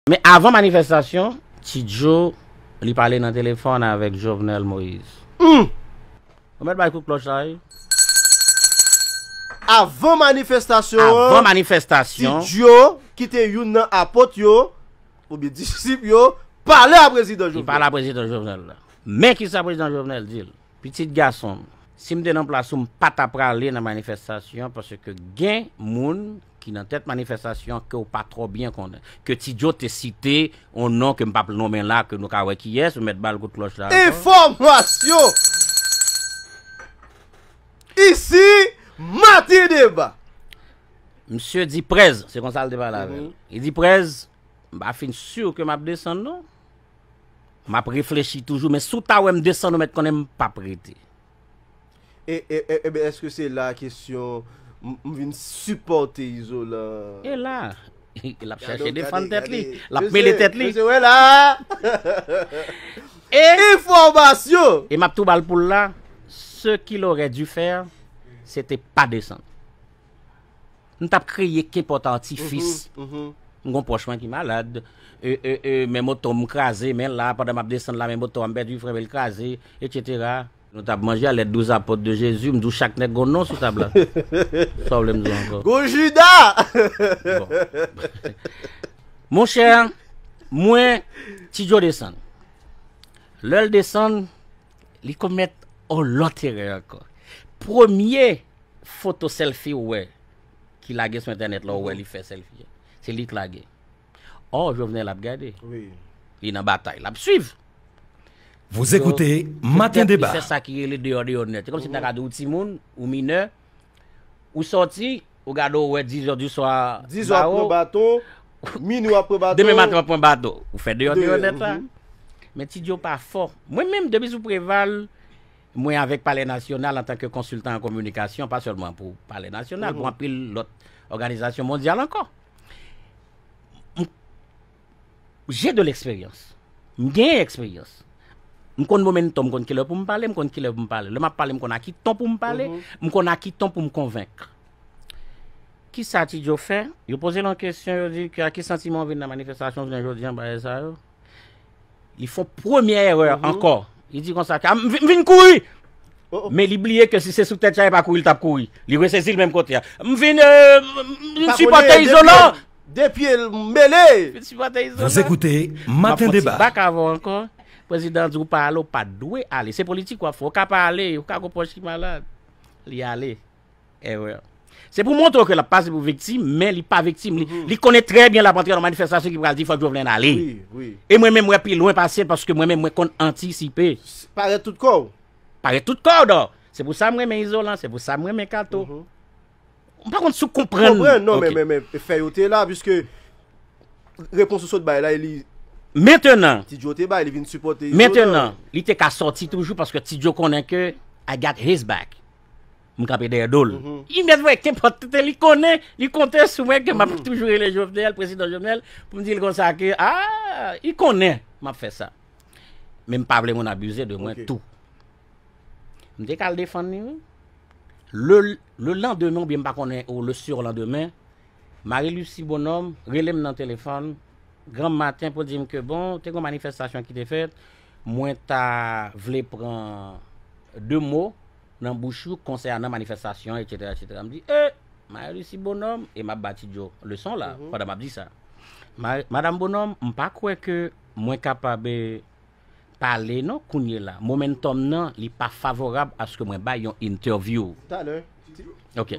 Men avan manifestasyon, Ti Joe li pale nan telefòn avèk Jovenel Moise. Humm! Ou mèt bay kout klòch la wi. Avan manifestasyon an, Avan manifestasyon. Ti Joe ki te youn nan apot yo, oubyen disip yo, pale a Prezidan Jovenel. Li pale a Prezidan Jovenel. Men kisa Prezidan Jovenel di l, Pitit gason m, si m te nan plas ou m pa ta prale nan manifestasyon paske gen moun ki nan tèt manifestasyon an ke w pa twò byen konnen, ke Ti Joe te site yon non ke m pa p nonmen la, ke nou ka wè kiyès, ou mèt ba l kout klòch la ankò. Enfòmasyon! Isi, Matin Deba! Msye di Prez, se konsa l te pale avè l, li di Prez, m pa fin sur ke m ap desann non, m ap reflechi toujou, men si w ta wè m desann ou mèt konnen m pa p rete. E Eben eske se la kesyon m vin sipòte Izolan. E la E lap chèche defann tèt li, lap mele tèt li. Mesye, mesye wè la E Enfòmasyon! E map tou bal poul la, ce qu'il aurait dû faire, c'était pa desann. M tap kreye kenpòt atifis. M gon pwòch mwen ki malad. Men moto m kraze. Men la, pandan m ap desann la, men moto a m pèdi frè m e l kraze, etsetera. Nou tap manje a lèt douz apot de Jezi. M di w chak nèg gon non sou tab la. Sa w vle m di w ankò? Gon Jida! Bon. Monchè, mwen, Ti Djo desann. Lè l desann, li komèt on lòt erè ankò. Premye foto selfie ou wè ki lage sou entènèt la ou wè li fè selfie a se li k lage or Jovenel ap gade li nan batay lap swiv Vous écoutez matin debat. Petèt li fè sa ki rele deyò deyò nèt. Se kòmsi m ta ka di ou timoun, ou minè, ou sòti, ou gade ou wè 10 zè di swa bawo, demen maten w ap pran bato. Ou fè deyò deyò nèt la. Men Ti Djo pa fò. Mwen menm depi sou Preval. Mwen avèk Palè Nasyonal antan ke konsiltan an kominikasyon, pa sèlman pou Palè Nasyonal, pou anpil lòt òganizasyon mondyal ankò. J'ai de l'expérience. M gen eksperyans. M konn momentum, m konn ki lè pou m pale, m konn ki lè pou m pale. Lè m ap pale, m konn a ki ton pou m pale, m konn a ki ton pou m konvenk. Ki sa Ti Djo fè? Yo poze l yon kesyon, yo di, a ki santiman ou vin nan manifestasyon jounen jodi an bagay sa yo? Li fon premye erè mhm. ankò. Li di konsa, m vin kouri! Oh, oh. Men li bliye ke si se sou tèt chay pa kouri, l tap kouri. Li resezi l menm kote a. M vin, euh, m sipote izolan! Depi el m mele! M sipote izolan! Vos ekoute, maten deba. Bak avon ankò, prezidan di ou pa ale, ou pa dwe ale. Se politik wap fò, ou ka pa ale, ou ka gopòch ki malad. Li ale. Erreur. Se pou montre w ke l ap pase pou viktim, men li pa viktim. Li konnen trè byen l ap antre nan manifestasyon ki pral di fòk Jovenel ale. E mwen menm mwen pi lwen pase l paske mwen menm mwen konn antisipe. Parèt tout kò w. Parèt tout kò w dò. Se pou sa m renmen Izolan, se pou sa m renmen Kato. M pa konn si w konprann. M konprann, non men men fè yo te la piske repons ou sot bay la e li. Mentenan. Ti Djo te bay, li vin sipòte Izolan. Mentenan, li te ka sòti toujou paske Ti Djo konnen ke I got his back. m kanpe dèyè do l. Li mèt wè kenpòt kote li konnen, li konte sou mwen ke m ap toujou rele Jovenel, Prezidan Jovenel, pou m di l konsa ke a, li konnen m ap fè sa. Men m pa vle moun abize de mwen tou. M te ka al defann li wi. Le landemen oubyen m pa konnen ou le surlandemen, Marie Lucie Bonhomme rele m nan telefòn granm maten pou di m ke bon, te gen yon manifestasyon ki te fèt, Mwen ta vle pran 2 mo nan bouch ou konsènan manifestasyon etc. Etc. M di ee! Marie Lucie Bonhomme, e m ap ba Ti Djo leson la pandan m ap di sa. Madam Bonhomme, m pa kwè ke mwen kapab pale non kounyela. Momentum nan li pa favorab aske mwen bay yon interview. Talè. Ok.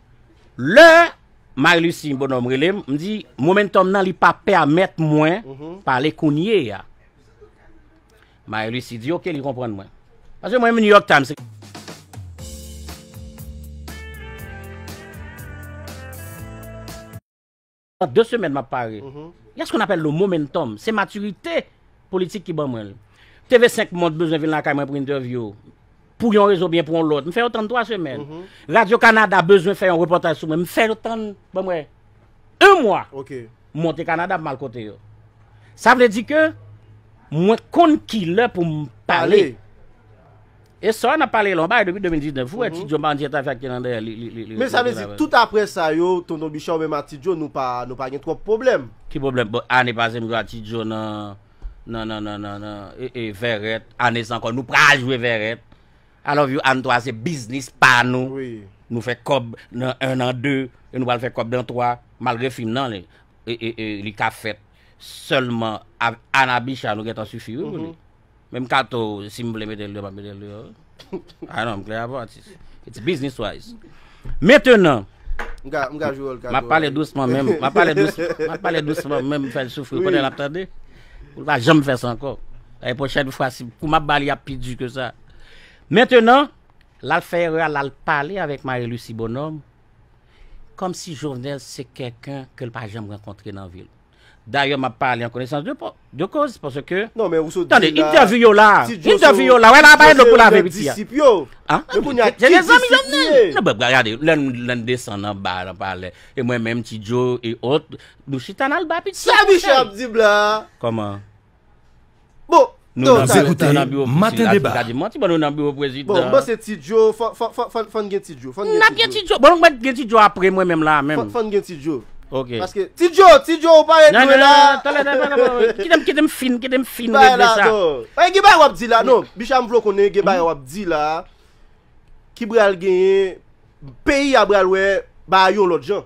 Lè Marie Lucie Bonhomme rele m, m di momentum nan li pa pèmèt mwen pale kounye a. Marie Lucie di ok li konprann mwen. Paske mwen menm New York Times se. An 2 semèn map pare. Gen skou n apèl lo momentum. Se maturite politik ki ban mwen l. TV 5 Mond bezwen vin lakay mwen pou entèvyou. Pou yon rezon oubyen pou yon lòt. M fè yo tann 3 semèn. Radio Canada bezwen fè yon repòtaj sou mwen. M fè yo tann ban mwen 1 mwa. M monte Canada m al kote yo. Sa vle di ke mwen konn kilè pou m pale. E sa nap pale la on bagay depi 2019 ou wè ti djo bandi ta fè ak te nan dèyèl li li Men sa vle di tout aprè sa yo tonton bicha ou menm ak ti djo nou pa nou pa gen twòp pwoblèm. Ki pwoblèm bon ane pase m jwe ak ti djo nan nan nan nan nan nan ee vèrèt ane sa ankò nou pra jwe vèrèt I love you Anne 3 se biznis pa nou nou fè kòb nan 1 nan 2 e nou pral fè kòb nan 3 malgre fim nan li ee li ka fèt sèlman avk Anne ak Bicha nou gentan sifi wi pou li. Menm kato si m vle mete l deyò m ap mete l deyò wi A non m klè avè w atis It's business wise Mentenan M ka m ka jwe wòl kato M ap pale dousman menm M ap pale dousman M ap pale dousman menm m fè l soufri pandan l ap tande Pou l pa janm fè sa ankò Lane pwochèn fwa si kou m ap ba li ap pi di ke sa Mentenan l al fè erè a l al pale avèk Marie Lucie Bonhomme kòmsi Jovenel se kèlken ke l pa janm rankontre nan vi l. Dayè map pale an konesans de koz paske tande entèvi yo la entèvi yo la wè la bay dlo pou lave piti a an se de zanmi jovenel lè n desann anba nan palè e mwen menm ti djo e ot nou chita nal ba piti a sa miche ap di blan an kòman Bon, nou nan biro prezidan. Nou nan biro prezidan. Maten deba. Gade manti bon nou nan biro prezidan. Bon, bon se ti djo, fòn gen ti djo. Nap gen ti djo. Bon nou mèt gen ti djo apre mwen menm la menm. Fòn gen ti djo. Ok. Paske ti djo, ti djo ou parèt nou la. Nan, nan, nan, talè, talè, talè. Kitem, kitem fin, kitem fin de sa. Bay la do. Bay gen bay wap di la. Non, bicha m vlo konnen gen bay wap di la. Ki bral genyen. Peyi a bral wè baay yon lòt jan.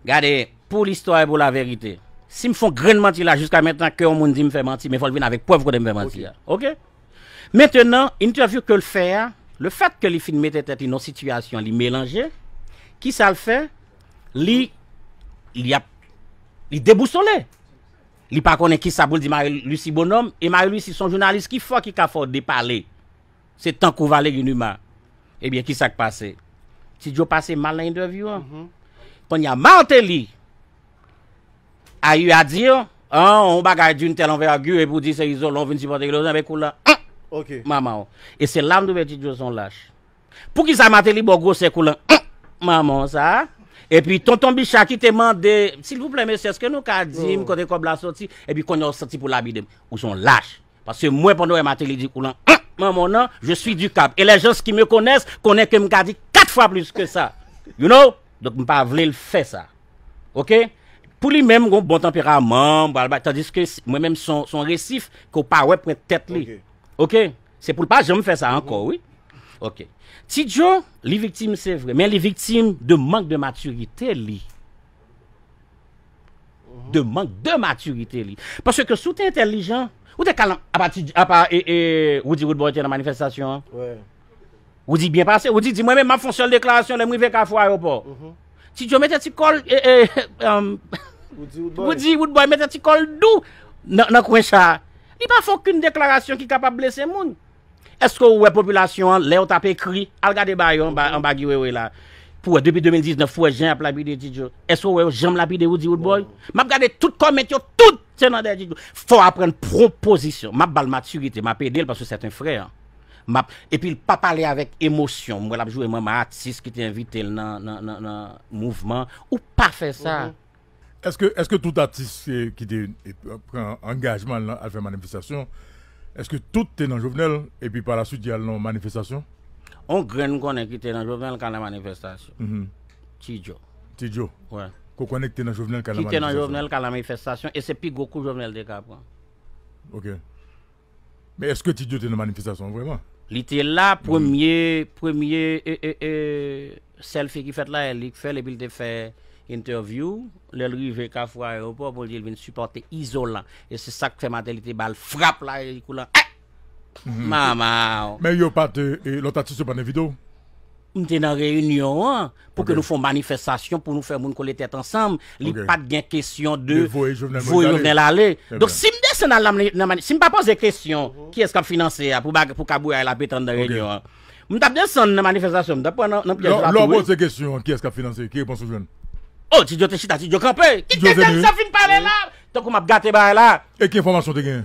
Gade, pou listwa e pou laverite. Si m fon grenn manti la jiska mentnan ke yon moun di m fè manti men fò l vin avèk prèv kote m fè manti a. Ok. Mentnan, entèvyou ke l fè a, le fèt ke li fin mete tèt li nan yon sitiyasyon li melanje, kisa l fè? Li li ap li debousole. Li pa konnen kisa pou l di Marie Lucie Bonhomme e Marie Lucie s on jounalis ki fò ki ka fè w depale. Se tankou Valery Numa. Ebyen kisa k pase? Ti Djo pase mal nan entèvyou an. Kounye a Martelly a eu à dire yon bagay d'une telle envergure epi w di se Izolan w vin sipòte Ilolan ebyen kou la manman w. E se la m twouve Ti Djo se yon lach. Poukisa Martelly ba w gwosè kou la manman w sa a? Epi Tonton Bicha ki te mande silvouplè mesye èske nou ka di m kote kòb la soti? Epi kounye a w santi pou w lapide m. Ou se yon lach. Paske mwen pandan wè Mateli di koulan humm manman w nan je suis du cap et les gens qui me connaissent konnen ke m ka di 4 fwa plis ke sa you know donk m pa vle l fè sa ok pou li menm gon bon tanperaman m pral bay tandiske mwen menm son son resif ke w pa wè pwent tèt li ok se pou l pa janm fè sa ankò wi ok Ti Djo li viktim se vre men li viktim de mank de matirite li de mank de maturite li. Paske ke sou te entelijan, ou te kalan apati apa e e Rudy Woodboy te nan manifestasyon an. Wè. Rudy byen pase, Rudy di mwen men map fon sel deklarasyon lè mwen rive kafou ayopò. Mhm. Ti Joe mete ti kol e e um, Rudy Woodboy mete ti kol dou nan nan kwen cha. Li pa fon kün deklarasyon ki kapab blese moun. Eske ou wè popilasyon an lèw tap ekri al gade ba yo anba Guy Wewe la pou wè depi 2019 pou wè jan yap lapide Tidjo eske ou wè yo janm lapide Roody Roodboy map gade tout comment yo tout se nan dèyè Tidjo fòw aprann pran pozisyon map bal matirite map edel paske sè ten frè map epil pa pale avèk emosyon m wè lap jwe manman atis kite envitel nan nan nan mouvman ou pa fè sa. Eske tout atis ki te pran angajman al fè manifestasyon, eske tout te nan Jovenel epi pa la swit yal nan yon manifestasyon? On grenn m konnen ki te nan Jovenel ka nan manifestasyon. Ti Djo. Ti Djo. Wi. Ke w konnen ki te nan Jovenel ka nan manifestasyon. Ki te nan Jovenel ka nan manifestasyon e se pi gwo kou Jovenel te ka pran. Ok. Men eske Tidjo te nan manifestasyon an vreman? Li te la premye premye selfie ki fèt la e li k fèl epi li te fè interview lèl rive kafou aeroport pou li dil vin sipòte izolan e se sak fè maten li te bal frap la e li koule an eh! Mamaw. Men yo pat lòt atis yo pat envite w? M te nan reyinyon an pou ke nou fon manifestasyon pou nou fè moun kole tèt ansanm, li pat gen kesyon de voye Jovenel ale. Donk si m desann al nan manifestasyon, si m pa poze kesyon ki es kap finanse a pou kabouya la ap etan nan reyinyon an, m tap desann nan manifestasyon, m tap pran nan pyèj la tou wi. Lè w poze kesyon ki es kap finanse, ki repons ou jwenn? Oh Ti Djo te chita, Ti Djo kanpe! Kite nèg sa fin pale la! Tankou map gate bagay la! E ki enfòmasyon w te genyen?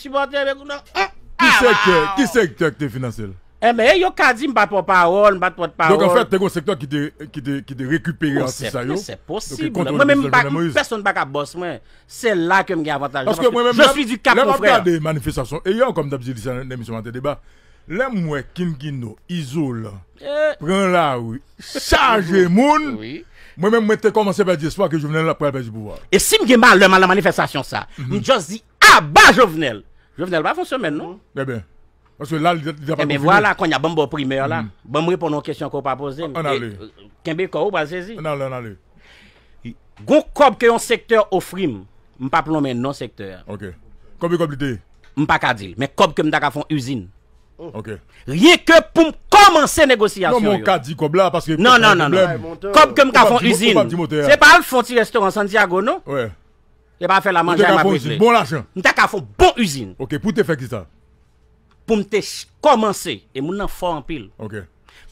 Sipòtè mwen kou nan oh. Ki sektè, ki sektè ki te finanse l? Enben, yo ka di m pa pò pawòl, m pa t pòt pawòl. Donk anfèt, te gen yon sektè ki te, ki te, ki te rekipere atis sa yo. Se posib. Mwen menm m pa, pèsonn pa ka bòs mwen. Se la ke m gen avantaj la. Paske mwen menm, lè m ap gade manifestasyon, e yè ankò m t ap di li sa nan emisyon Maten Deba, lè m wè King Kino, Izolan, pran lari, chaje moun, mwen menm mwen te kòmanse pèdi espwa ke Jovenel ap pral pèdi pouvwa. E si m gen malè m al nan manifestasyon sa, m just di Aba jovenel! Jovenel pa fon semèn non. Ebyen. Paske la li deja pa konfime. Ebyen vwala konnya banm baw primè la. Banm reponn yon kesyon ke ou pa pozem. Ann ale. Kenbe kò ou pral sezi. Ann ale ann ale. Gon kòb ke yon sektè ofrim. M pap lonmen non sektè a. Ok. Konbyen kòb li te ye? M paka dil. Men kòb ke m ta ka fon izin. Ok. Ryen ke poum kòmanse negosyasyon yo. Non men ou ka di kòb la paske. Non non non. Kòb ke m ka fon izin. Ou pap di motè a. Se pa al fon ti restoran Santiago non. Wi. Yo pa fè la manje a m ap regle. Bon lajan. M ta ka fon bon izin. Ok pou te fè kisa? Pou m te kòmanse. E moun nan fò anpil. Ok.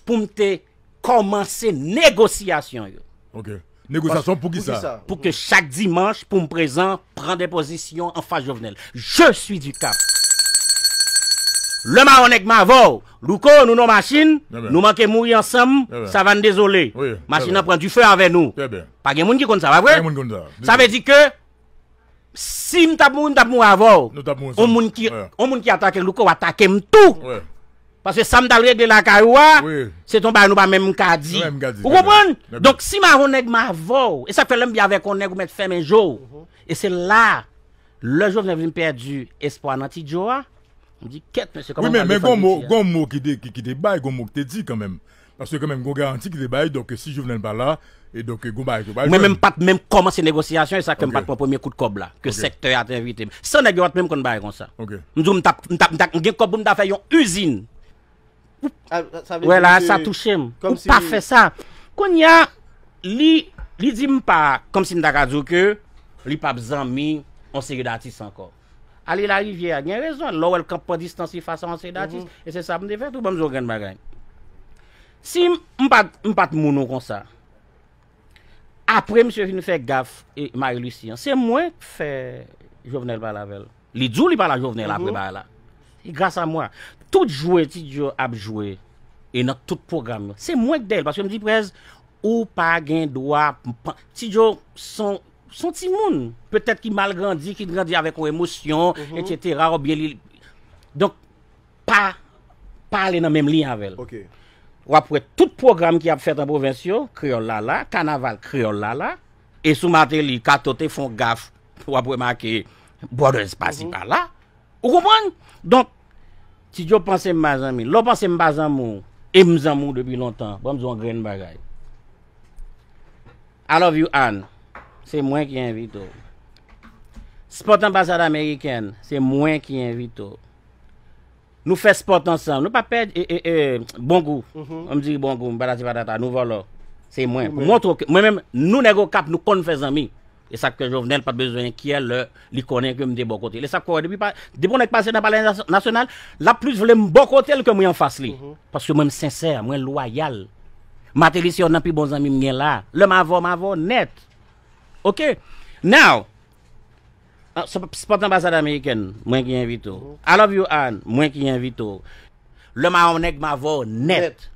Pou m te kòmanse negosyasyon yo. Ok. Negosyasyon pou kisa? Pou ke chak dimanch pou m prezan pran de pozisyon an fas Jovenel. Je suis du cap. Le maron nèg m avè w. Louko nou nan w machin. Nou manke mouri ansanm. Savann dezole. Machin nan pran dife avè nou. Trè byen. Pa gen moun ki konn sa, pa vre? Sa vle di ke si m t ap mouri, m t ap mouri avè w. On moun ki atake Louko atake m tou. Paske sa m t al regle lakay ou a, se t on bagay nou pa menm ka di. Ou konprann? Donk si m avè on nèg m avè w. E sa k fè lè m byen avèk on nèg ou mèt fèmen je w. E se la, lè Jovenel vin pèdi espwa nan Ti Djo a, m di kèt mesye kòman m pral defann Ti Djo a. Wi men, men gon mo ki te bay, gon mo ki te di kanmenm. Paske kanmenm gon garanti ki te bay donk si Jovenel pa la e donk gon bagay ke w pral jwenn. Mwen menm pat menm kòmanse negosyasyon e sa fè m pat pran premye kout kòb la ke sektè a te envite m. San nèg yo pat menm konn bagay konsa. M di w m ta m ta m ta gen kòb pou m ta fè yon izin. Wè la a sa touche m. Ou pa fè sa. Kounye a li li di m pa kòmsi m ta ka di w ke li pap zanmi yon seri datis ankò. Ale larivyè a gen rezon l lè w wè l kanpe pran distans li fas a yon seri datis e se sa m te fè tou ban m di w yon grenn bagay si m pa t m pa t moun ou konsa apre misye fin fè gaf Marie Lucie an se mwen k fè Jovenel pale avè l li di w li pale a Jovenel apre bagay la se gras a mwen tout jwe Ti Djo ap jwe e nan tout pwogram yo se mwen k dèyè l paske m di prèz ou pa gen dwa Ti Djo son S on timoun, petèt ki mal grandi, ki grandi avèk yon emosyon, etsetera, ou byen li. Donk, pa, pa ale nan menm liy avè l. Ok. W ap wè tout pwogram ki ap fèt an pwovens yo, kreyòl la la, kanaval, kreyòl la la. E sou Mateli, Kato te fè yon gaf, w ap wè make Brothers pasi pala. Ou konprann? Donk, Ti Djo panse m pa zanmi l. Lè w panse m pa zanmi w, e m zanmi w depi lontan, ban m di w yon grenn bagay. I love you Anne se mwen ki envite w sport anbasad amerikèn se mwen ki envite w nou fè sport ansanm nou pa pè bon gou m di bon gou patati patata nou vòlò se mwen mwen menm nou nèg okap nou konn fè zanmi e sak fè jovenel pat bezwen enkyè lè Li konnen ke m te bò kote l. E sa k fè wè depi pa, depi yon nèg pase nan palè nasyonal, l ap plis vle m bò kote l ke mwen anfas li. Paske mwen m sensè, mwen lwayal. Mateli se yonn nan pi bon zanmi m gen la. Lè m avè w, m avè w nèt. Ok. Now, se pa t anbasad amerikèn, mwen ki envite w. I love you Anne, mwen ki envite w. Lè m avè yon nèg, m avè w nèt.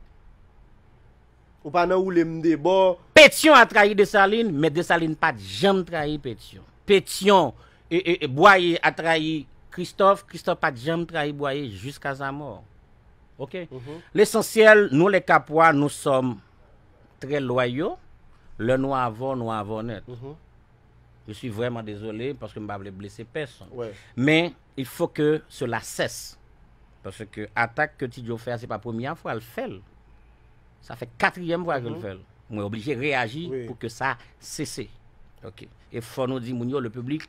Ou pa nan woule m de bò. Petion a trayi Dessalines, men Dessalines pa t janm trayi Petion. Petion, Boyer a trayi Christophe, Christophe pa t janm trayi Boyer jiska sa mò. Ok. Lesansyèl, nou lè Kapwa, nou sòm trè lwayo. Lè nou avò, nou avò nèt. Je suis vraiment désolé, paske m pa vle blese pèsonn. Men. Il faut que cela cesse parce que attaque que T-Joe fè a se pa premye a fwa l fè l sa fè katriyèm fwa ke l fè l mwen oblije reyaji pou ke sa sese ok e fò nou di moun yo le public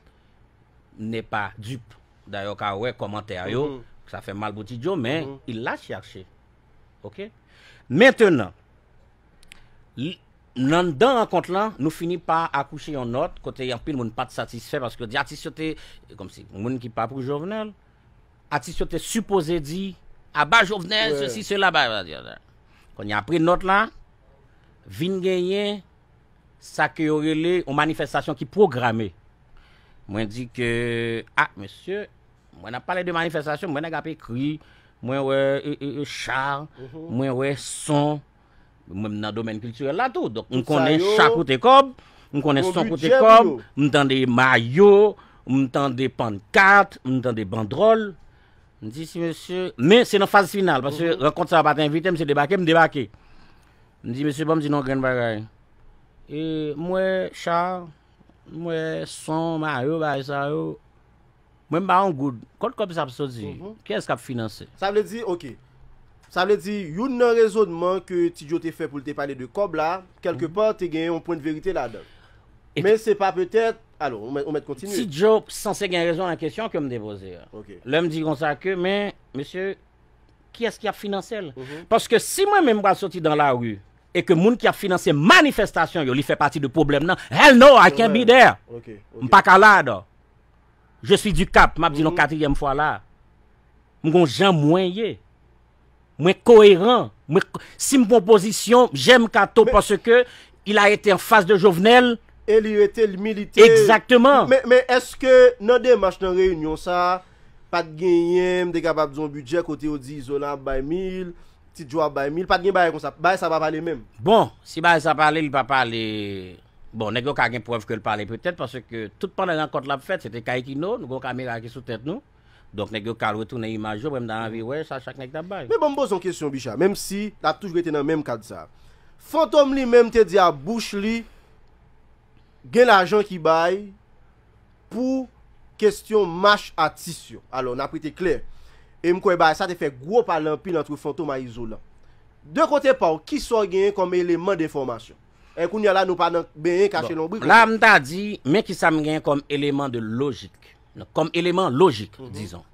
n'est pas dupe dayè w ka wè kòmantè yo sa fè mal pou T-Joe men il l'a cherche ok mentenan Anndan rankont lan, nou fini pa akouche yon nòt kote anpil moun pa t satisfè paske yo di atis yo te, kòmsi moun ki pa pou Jovenel, atis yo te sipoze di aba Jovenel, sesi, sela, aba Jovenel. Kounye a apre nòt la, vin genyen sa ke yo rele yon manifestasyon ki pwograme. Mwen di ke, a, mesye, mwen n ap pale de manifestasyon, mwen wè nèg ap ekri, mwen wè cha, mwen wè son. Mwen m nan domèn kiltirèl la tou. Donk m konnen cha koute kòb, m konnen son koute kòb, m tande mayo, m tande pannkat, m tande bandròl. M di si mesye, men se nan faz final, paske rankont sa yo pa te envite m, se debake m debake. M di mesye banm di nou yon grenn bagay. E m wè cha, m wè son, mayo, bagay sa yo. Mwen m pa yon goud. Kot kob sa ap soti? Kiyes kap finanse? Sa vle di ok. Sa vle di youn nan rezonman ke Ti Djo te fè pou l te pale de kòb la, kèlke pa te gen yon pwen de verite ladan l. Men se pa petèt, alo, ou mèt kontinye. Ti Djo sanse gen rezon nan kesyon ke m te poze a. Ok. Lè m di konsa ke men, mesye, kiyès ki ap finanse l? Paske si mwen menm m pral soti dan lari e ke moun ki ap finanse manifestasyon yo li fè pati de pwoblèm nan, hell no, I can't be there! Ok, ok. M pa ka la adan. Je suis du cap, map dil yon katriyèm fwa la. M gon jan mwen ye. Mwen koeran. Mwen si m pran pozisyon, j'aime Kato parce que il a été en face de Jovenel. E li rete, li milite. Exactement. Men eske nan demach nan reyinyon sa a, pat genyen, m te kapab di yon bidjè kote yo di Izolan ap bay 1000, Ti Djo ap bay 1000, pat gen bagay konsa. Bagay sa pa pale menm. Bon, si bagay sa pale, li pa pale. Bon, nèg yo ka gen prèv ke l pale petèt, paske tout pandan rankont la ap fèt, se te kay Kino, nou gen yon kamera ki sou tèt nou, donk nèg yo ka al retounen imaj yo, mwen m ta anvi wè sa chak nèg ta bay. Men ban m poze yon kesyon Bicha, menm si l ap toujou rete nan menm kad sa a. Fantom li menm te di a bouch li gen lajan ki bay pou kestyon mach atis yo. Alò, n ap rete klè, e m kwè bagay sa te fè gwo pale anpil antre Fantom a Izolan. De kote pa w, ki sa w genyen kòm eleman denfòmasyon? Eh kounya la nou pa nan benyen kache lonbrik ankò. Bon, la m ta di, men ki sa m gen kòm eleman de lojik, kòm eleman lojik, dizon.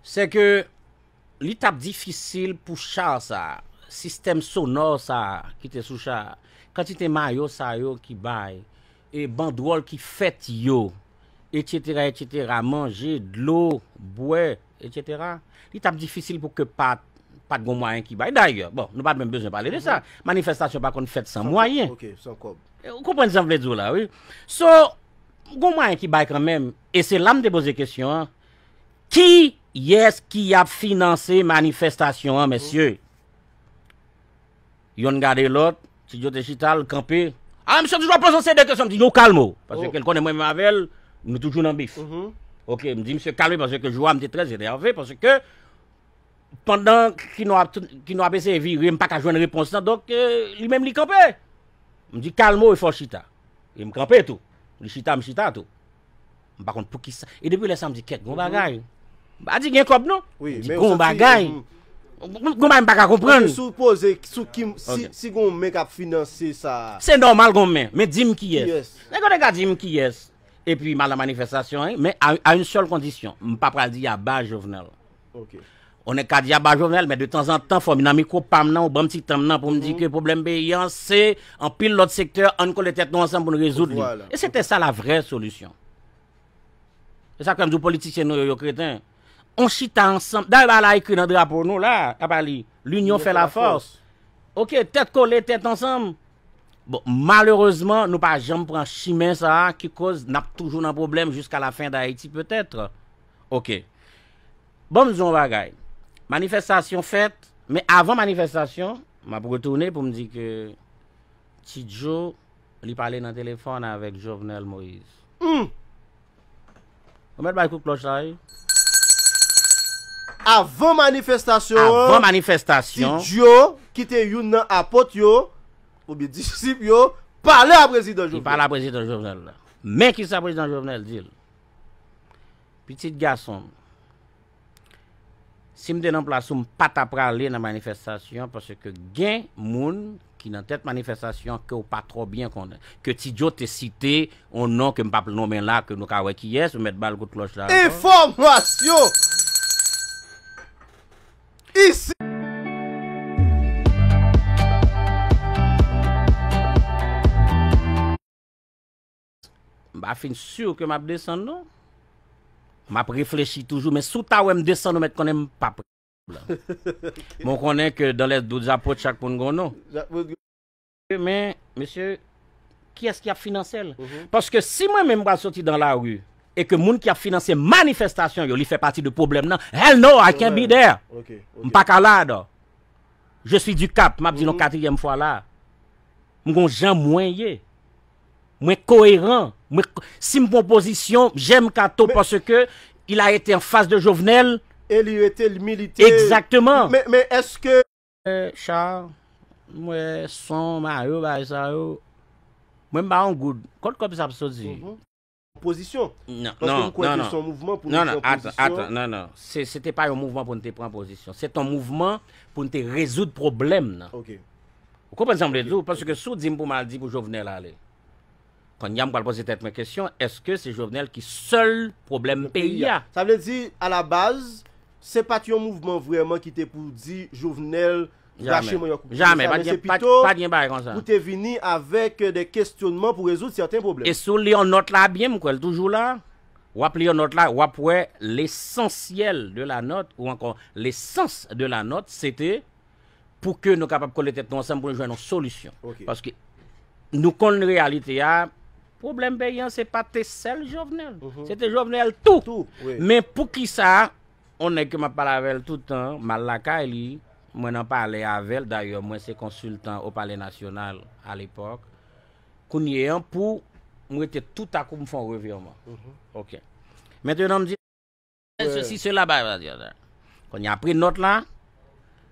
Se ke li t ap difisil pou cha sa a, sistèm sonò sa a ki te sou cha a, kantite mayo sa yo ki bay, e bandwòl ki fèt yo, etsetera, etsetera, manje, dlo, bwè, Etc. Li tap difisil pou ke pat pat gon mwayen ki bay. Dayè, bon, nou pat menm bezwen pale de sa. Manifestasyon pa konn fèt san mwayen. Ok, san kòb. Ou konprann sa m vle di w la wi. So, gon mwayen ki bay kanmenm. E se la m te poze kesyon an. Kiyès ki ap finanse manifestasyon an, mesye? Yonn gade lòt, Ti Djo te chita, l kanpe. Ah, misye toujou ap poze seri de kesyon. M di, Djo kalme w. Paske ke l konnen mwen menm avè l, nou toujou nan bif. Ok, m di misye kalme paske ke jou a m te trè enève paske ke pandan Kino ap Kino ap eseye vire m pa ka jwenn repons lan donk li menm li kanpe. M di kalme w e fè w chita. E m kanpe tou. Li chita, m chita tou. M pa konn poukisa. E depi lè sa m di kèk gon bagay. M pa di gen kòb non. M di gon bagay. Gon bagay m pa ka konprann. Sou w poze sou ki si gon men k ap finanse sa. Se nòmal gon men. Men di m kiyès. Nèg yo te ka di m kiyès. Epi m al nan manifestasyon an. Men a yon sèl kondisyon. M pa pral di aba Jovenel. On est kadyab a Jovenel men de tanzantan fò m nan mikwo pa m nan ou ban m ti tan m nan pou m di ke pwoblèm peyi an se anpil lòt sektè an n kole tèt nou ansanm pou n rezoud li e se te sa la vrè solisyon se sa k fè m di w politisyen nou yo yo kreten on chita ansanm dayè bagay la ekri nan drapo nou la a pa li linyon fè la fòs ok tèt kole tèt ansanm bon malerezman nou pa janm pran chimen sa a ki koz n ap toujou nan pwoblèm jiska la fen dayiti petèt ok. Bon m di w yon bagay, manifestasyon fèt, men avan manifestasyon, m ap retounen pou m di ke Ti Djo li pale nan telefòn avèk Jovenel Moïse. Humm! Ou mèt bay kout klòch la wi. Avan manifestasyon an, Avan manifestasyon. Ti Djo ki te youn nan apot yo, oubyen disip yo, pale a Prezidan Jovenel. Li pale a Prezidan Jovenel. Men kisa Prezidan Jovenel di l. Pitit gason m. Si m te nan plas ou m pa ta prale nan manifestasyon paske gen moun ki nan tèt manifestasyon ke w pa twò byen konnen. Ke Ti Joe te site yon non ke m pa p nonmen la ke nou ka wè kiyès, ou mèt ba l kout klòch la ankò. Enfòmasyon isit. M pa fin sur ke map desann non. Map reflechi toujou men si w ta wè m desann ou mèt konnen m pap reponn ou. Men w konnen ke dans les doutes apot chak moun gon non. Men mesye kiyès ki ap finanse l? Paske si mwen menm m pral soti dans la rue e ke moun ki ap finanse manifestasyon yo li fè pati de pwoblèm nan hell no I can't be there! M pa ka la dò. Je suis du cap map di l yon katriyèm fwa la. M gon jan mwen ye. Mwen koeran, mwen si m pran pozisyon, j'aime Kato parce que il a été en face de Jovenel. E li rete, li milite. Exactement. Men eske. Charles, m wè son, mayo, bagay sa yo. Mwen m pa yon goud. Kot kob sa ap soti? Pozisyon. Nan, nan, nan, nan. Paske m kwè ke se yon mouvman pou nou pran pozisyon. Nan, nan, atan, atan, nan, nan. Se, se te pa yon mouvman pou nou te pran pozisyon. Se te yon mouvman pou nou te rezoud pwoblèm nan. Ok. Ou konprann sa m vle di ou? Paske si ou di m pou m al di pou Jovenel ale. Konnye a m pral poze tèt mwen kesyon, èske se Jovenel ki sèl pwoblèm peyi a? Sa vle di, a la baz, se pa t yon mouvman vrèman ki te pou di Jovenel. Jamè, jamè, pa gen, pa gen bagay konsa. Pou te vini avèk de kestyonman pou rezoud sèten pwoblèm. E si w li yon nòt la byen, m kwè l toujou la, w ap li yon nòt la, w ap wè lesansyèl de la nòt ou ankò lesans de la nòt se te pou ke nou kapab kole tèt nou ansanm pou nou jwenn yon solisyon. Paske nou konn reyalite a, pwoblèm peyi an se pa te sèl Jovenel, se te Jovenel tou. Men pou ki sa? On nèg ke m ap pale avè l tout tan, m al lakay li, mwen nan palè avè l, dayè mwen se konsiltan o palè nasyonal alepòk, kounye an pou m rete toutakou m fè yon revirman. Ok. Mentenan m di. Sesi sela ba ba di sa. Kounye apre nòt la,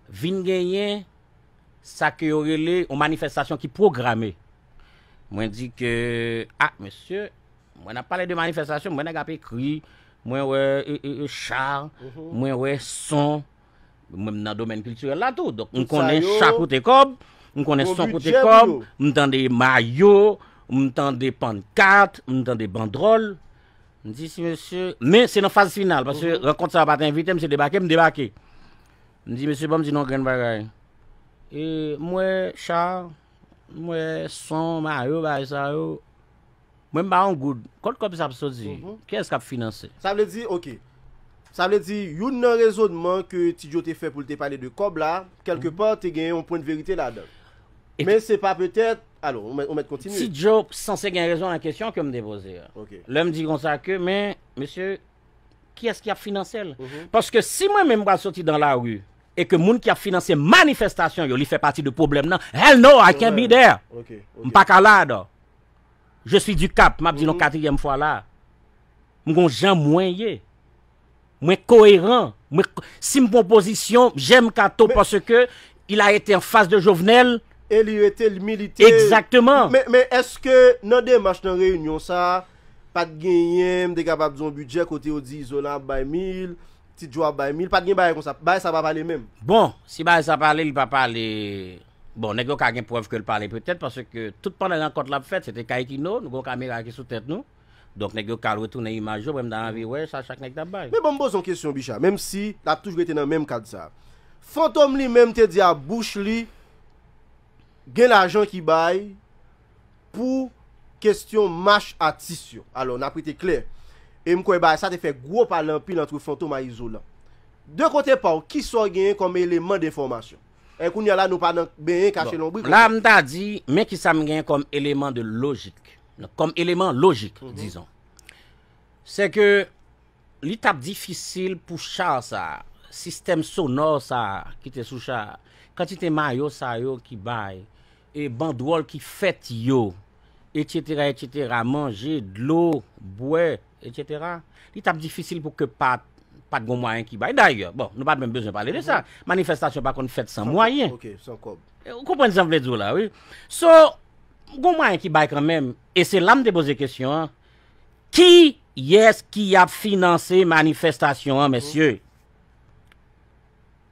vin genyen sa ke yo rele yon manifestasyon ki pwograme. Mwen di ke, ah mesye, Mwen nap pale de manifestasyon mwen nèg ap ekri mwen wè char mwen wè son mwen nan domèn kiltirèl la tou donk m konnen cha koute kòb m konnen son koute kòb m tande mayo m tande pankat m tande bandròl m di si mesye men se nan faz final paske rankont sa pat envite m se debake m debake m di mesye banm di nou yon grenn bagay e m wè char m wè son mayo bagay sa yo Mwen m pa yon goud. Kot kob sa ap soti? Kiyes kap finanse? Sa vle di, ok. Sa vle di, youn nan rezonman ke Ti Djo te fè pou l te pale de kòb la, kèlke pa, te gen yon pwen de verite ladan l. Men se pa petèt, alo, ou mèt kontinye. Ti Djo sanse gen rezon nan kesyon ke m te poze a. Ok. Lè m di konsa ke, men, mesye, kiyès ki ap finanse l? Paske si mwen menm m pral soti dan lari, e ke moun ki ap finanse manifestasyon yo, li fè pati de pwoblèm nan, hell no, I can't be there! Ok, ok. M pa ka la, dò. Je suis du cap map dil yon katriyèm fwa la m gon jan mwen ye mwen koeran mwen sim pran pozisyon jèm kato paske il a ete an fas de jovenel e li rete li milite exactement men eske nan demach nan reyinyon sa pat genyen m te kapab di yon bidjè kote yo di izolan ap bay mil ti djo ap bay mil pat gen bagay konsa bagay sa pa pale menm bon si bagay sa pale li pa pale. Bon, nèg yo ka gen prèv ke l pale petèt, paske tout pandan rankont la ap fèt, se te kay Kino, nou gen yon kamera ki sou tèt nou, donk nèg yo ka al retounen imaj yo, mwen m ta anvi wè sa chak nèg t ap bay. Men ban m poze yon kesyon Bicha, menm si l ap toujou rete nan menm kad sa a. Fantom li menm te di a bouch li gen lajan ki bay pou kesyon mach atis yo. Alò, n ap rete klè, e m kwè bagay sa te fè gwo pale anpil antre Fantom a Izolan. De kote pa w, ki sa w genyen kòm eleman denfòmasyon? E kounya la nou pa nan benyen kache lonbrik ankò. La m ta di, men ki sa m gen kòm eleman de lojik, kòm eleman lojik dizon. Se ke li t ap difisil pou cha sa a, sistèm sonò sa a ki te sou cha a, kantite mayo sa yo ki bay, e bandwòl ki fèt yo, etsetera etsetera, manje, dlo, bwè, Etc. Li tap difisil pou ke pa pat gon mwayen ki bay. Dayè, bon, nou pat menm bezwen pale de sa. Manifestasyon pa konn fèt san mwayen. Ok, san kòb. Ou konprann sa m vle di w la wi. So, gon mwayen ki bay kanmenm. E se la m te poze kesyon an. Kiyès ki ap finanse manifestasyon an, mesye?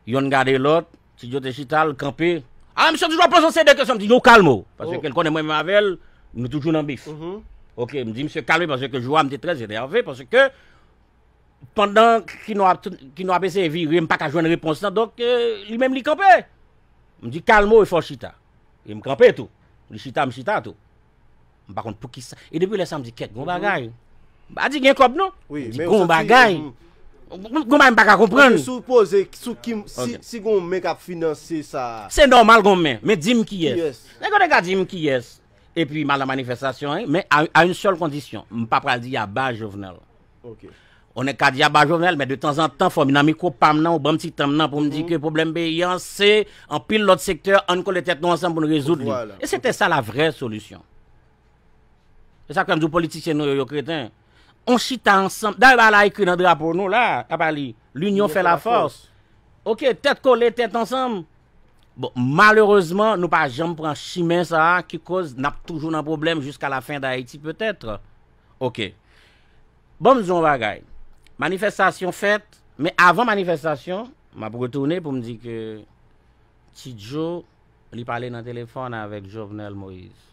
Yonn gade lòt, Ti Djo te chita, l kanpe, A misye toujou ap poze w seri de kesyon, m di non kalme w, paske ke l konnen mwen menm avè l, nou toujou nan bif. Ok, m di misye kalme paske ke jou a m te trè enève paske ke pandan Kino ap Kino ap eseye vire m pa ka jwenn repons lan donk li menm li kanpe. M di kalme w e fè w chita. E m kanpe tou. Li chita m chita tou. M pa konn poukisa. E depi lè sa m di kèt gon bagay. M pa di gen kòb non. M di gon bagay. Gon bagay m pa ka konprann. Mwen soupoze sou ki si gon men k ap finanse sa. Se nòmal gon men. Men di m kiyès. Nèg yo te ka di m kiyès. Epi m al nan manifestasyon an. Men a yon sèl kondisyon. M pa pral di aba Jovenel. On nèg ka di aba Jovenel men de tanzantan fò m nan mikwo pa m nan ou ban m ti tan m nan pou m di ke pwoblèm peyi an se anpil lòt sektè an n kole tèt nou ansanm pou n rezoud li. E se te sa la vrè solisyon. Se sa k fè m di w politisyen nou yo yo kreten. On chita ansanm, dayè bagay la ekri nan drapo nou la, a pa li, L'union fait la force. Ok, tèt kole, tèt ansanm. Bon, malerezman nou pa janm pran chimen sa a ki koz n ap toujou nan pwoblèm jiska la fen dayiti petètre. Ok. Bon m di w yon bagay, manifestasyon fèt, men avan manifestasyon, m ap retounen pou m di ke Ti Djo li pale nan telefòn avèk Jovenel Moïse.